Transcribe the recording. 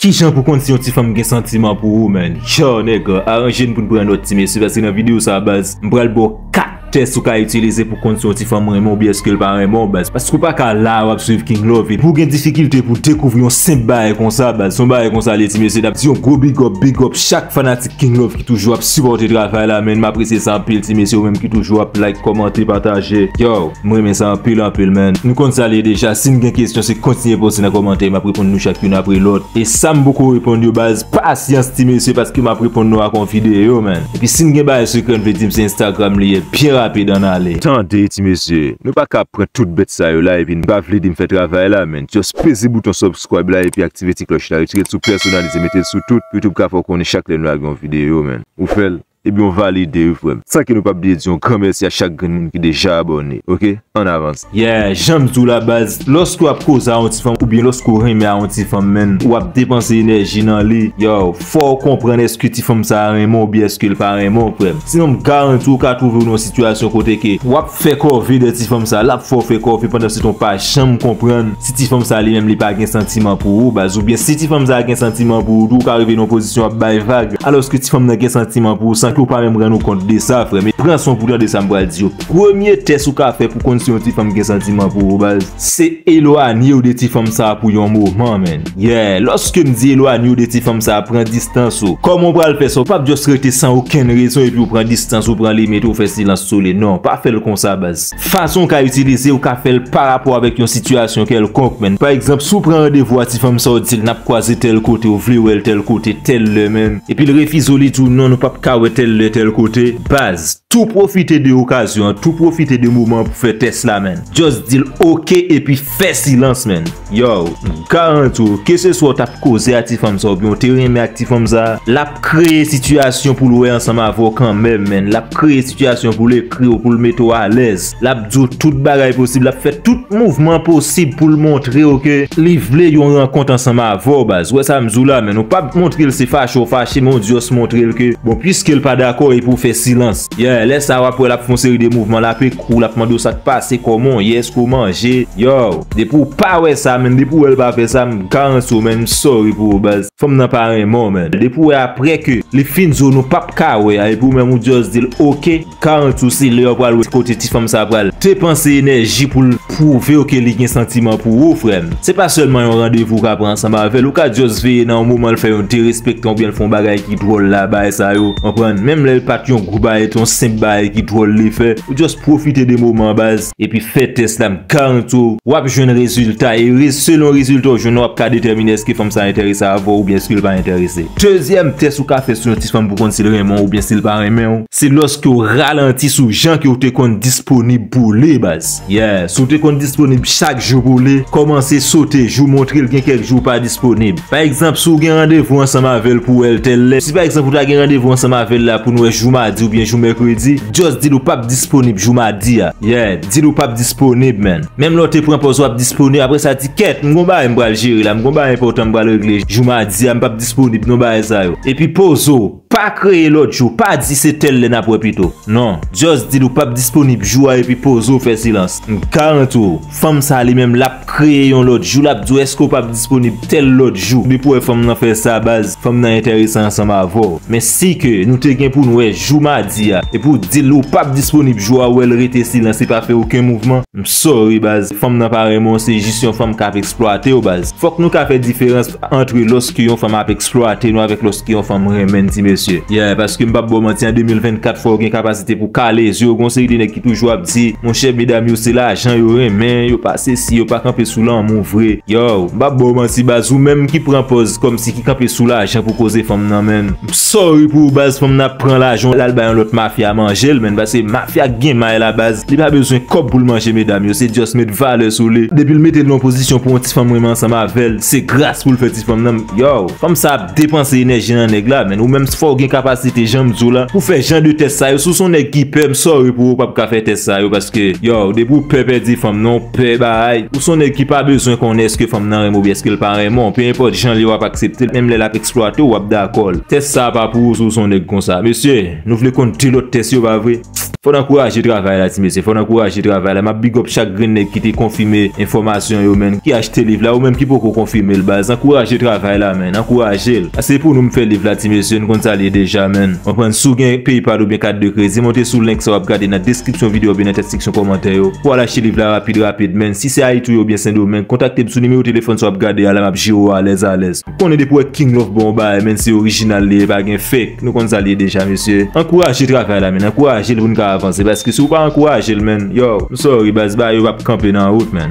Kijan pou konn si yon ti fanm gen santiman pou ou man, tjoo nèg aranje n pou n pran nòt ti mesye paske nan videyo sa baz m pral ba w 4 tès ou ka itilize pou konn si yon ti fanm renmen w byen eske l pa renmen w baz paske ou pa ka la a wap swiv king love epi w gen difikilte pou w dekouvri yon senp bagay konsa baz son bagay konsa l ye ti mesye nap di yon gwo big up big up chak fanatik king love ki toujou ap sipòte travay la man m apresye sa anpil ti mesye ou menm ki toujou ap like kòmante pataje yow. M renmen sa anpil anpil man. Nou konn sa l ye deja, si n gen kesyon se kontinye poze nan kòmantè map reponn nou chak youn apre lòt. E sam poko reponn yo baz pasyans ti mesye paske map reponn nou ak on videyo man. Epi si n gen bagay sekrè n vle di m se Instagram li ye byen rapid ann ale. Tande ti mesye, nou pa ka ap pran tout bèt sa yo la epi n pa vle di m fè travay la man. Just peze bouton subscribe la epi aktive ti klòch la, retire l sou pèsonalize mete l sou tout pou YouTube ka fè w konnen chak lè n lage on videyo man. Ou fè l. Ebyen w valide wi frem. Sa ke nou pap vle di yon gran mèsi a chak grenn moun ki deja abòne ok an avans. Yeah janm diw la baz loske wap koze a yon ti fanm oubyen loske w renmen a yon ti fanm menn wap depanse enèji nan li yow fòw konprann eske ti fanm sa renmen w oubyen eskel pa renmen w frèm sinon m garanti w ka twouve w nan yon sitiyasyon kote ke wap Fè kòve dè ti fanm sa lap fè w fè kòve pandan se ton pa janm konprann si ti fanm sa li menm li pa gen santiman pou ou baz ou byen si ti fanm sa gen santiman pou ou tou ou ka rive nan yon pozisyon ap bay vag alòske ti fanm nan gen santiman pou ou san ke ou pa menm rann ou kont de sa frè m pran son pou tande sa m pral di yo premye tès ou ka fè pou konn si yon ti fanm gen santiman pou ou baz. Se elwanye w de ti fanm sa pou yon moman menn. Yeah, lòske m di elwanye w de ti fanm sa pran distans ou. Kòman w pral fè sa? Ou pap just rete san okenn rezon epi w pran distans ou, pran limit ou, fè silans sou li. Non, pa fè l konsa baz. Fason w ka itilize, ou ka fè l pa rapò avèk yon sitiyasyon kèlkonk menn. Pa egzanp, si w pran randevou a ti fanm sa w di l n ap kwaze tèl kote, ou vle wè l tèl kote, tèl lè menm, epi l refize w li di w non nou pap ka wè tèl lè, tèl kote, baz, tou pwofite de okazyon an, tou pwofite de moman an pou fè tès la menn. Just dil ok epi fè silans man. Yow, m garanti w, keseswa w t ap koze ak ti fanm sa oubyen w te renmen ak ti fanm sa, l ap kreye sitiyasyon pou l wè ansanm avè w kanmèm man. L ap kreye sitiyasyon pou l ekri w, pou l mete w alèz. L ap di w tout bagay posib, l ap fè tout mouvman posib pou l montre w ke li vle yon rankont ansanm avè w baz. Ou wè sa m di w la man. Ou pa montre l se fache w fache men w just montre l ke bon pwiske l pa dakò epi w fè silans. Yeah, lè sa a wap wè lap fè yon seri de mouvman lape kou w, lap mande w sak pase, kòman w ye, eske w manje, yow, depi w pa wè sa menn, depi w wè l pa fè sa, m garanti w menn, m sorry pou ou baz, fanm nan pa renmen w menn, depi w wè aprè ke li fin di w nou pap ka wè a epi w menm ou just di l ok, m garanti w se lè w pral wè kote ti fanm sa a pral depanse enèji pou l. Pwouvew ke li gen santiman pou ou frèm. Se pa sèlman yon randevou ou ka pran ansanm avèl, ou ka just veye nan yon moman l fè yon derespektan oubyen l fè yon bagay ki dwòl la bagay sa yo konprann, menm lèl pat yon gwo bagay yon senp bagay ki dwòl li fè, ou just pwofite de moman an baz. Epi fè tès la m garanti w wap jwenn rezilta e selon rezilta ou jwenn nan wap ka detèmine eske fanm sa entèrese avèw oubyen eske l pa entèrese. Dezyèm tès ou ka fè sou yon ti fanm pou konn si l renmen w oubyen si l pa renmenw. Se lòske w ralanti sou jan ke w te konn disponib pou w li baz. Yeah, si w te konn disponib chak jou pou w li, kòmanse sote jou montre l gen kèk jou w pa disponib. Pa egzanp, si w gen randevou ansanm avè l pou w wè l tèl lè, si pa egzanp ou ta gen randevou ansanm avè l la pou nou wè jou madi oubyen jou mèkredi, just di l ou pap disponib jou madi a. Yeah, di l ou pap disponib man. Menm lè w te pran pòz wap disponib, apre sa di, kèt, m gon bagay m pral jere la, m gon bagay enpòtan m pral regle jou madi a, m pap disponib non bagay sa yo. Epi poze w. Pa kreye lòt jou, pa di se tèl lè nap wè pito. Non, just dil ou pap disponib jou a epi poze w fè silans. M garanti w, fanm sa li menm lap kreye yon lòt jou, lap di w eske w pap disponib tèl lòt jou. Depi w wè fanm nan fè sa baz, fanm nan enterese ansanm avè w. Men si ke nou te gen pou n wè jou madi a, epi w dil ou pap disponib jou a, wè l rete silans li pa fè oken mouvman, m sorry baz, fanm nan pa renmen w se jis yon fanm kap eksplwate w baz. Fòk nou ka fè diferans. Antre loske yon fanm ap eksplwate nou avèk loske yon fanm renmenn ti mesye. Yeah, paske m pap ba w manti an 2024 fò w gen kapasite pou w kale zye w gon seri de nèg ki toujou ap di, monchè medam yo se lajan yo renmen, yo pa sesi, yo pa kanpe sou lanmou vre. Yow, m pap ba w manti baz ou menm ki pran pòz kòmsi ki kanpe sou lajan pou koze fanm nan menn. M sorry pou ou baz fanm nan ap pran lajan w lal bay yon lòt mafya manje l menn paske mafya k gen may la baz li pa bezwen kòb pou l manje medam yo se just met valè sou li depi l mete l nan yon pozisyon pou yon ti fanm renmen ansanm avè l. Se gras poul fè ti fanm nan yow. Fanm sa ap depanse enèji nan nèg la menn ou menm fow gen kapasite janm diw la pou fè jan de tès sa yo si w son nèg ki pè m sorry pou ou pap ka fè tès sa yo paske yow depi w pè pèdi fanm nan w pè baay ou son nèg ki pa bezwen konnen eske fanm nan renmen w oubyen eske l pa renmen w pe enpòt jan l ye wap aksepte l menm lè lap eksplwate w wap dakò l tès sa pa pou ou si w son nèg konsa mesye nou vle konn de lòt tès yo pa vre. Fò n ankouraje travay la ti mesye fò n ankouraje travay la map bigòp chak grenn nèg ki te konfime enfòmasyon yo menn ki achte liv la ou menm ki poko konfime l baz ankouraje travay la menn ankouraje l se pou nou m fè liv la ti mesye n konn sa l ye deja menn konprann si w gen paypal oubyen kat de kredi monte sou link sa wap gade nan deskripsyon video oubyen nan tèt seksyon kòmantè yo pou w al achte liv la rapid rapid menn si se ayiti w ye oubyen sendomeng kontakte m sou nimewo telefòn sa wap gade a la map jere w alèz alèz. Konnen depi wè king love bon bagay menn se original li ye pa gen fake nou konn sa li ye deja mesye ankouraje travay la menn ankouraje l pou n ka avanse paske si w pa ankouraje l menn yow m sorry baz bagay yo pap kanpe nan wout menn.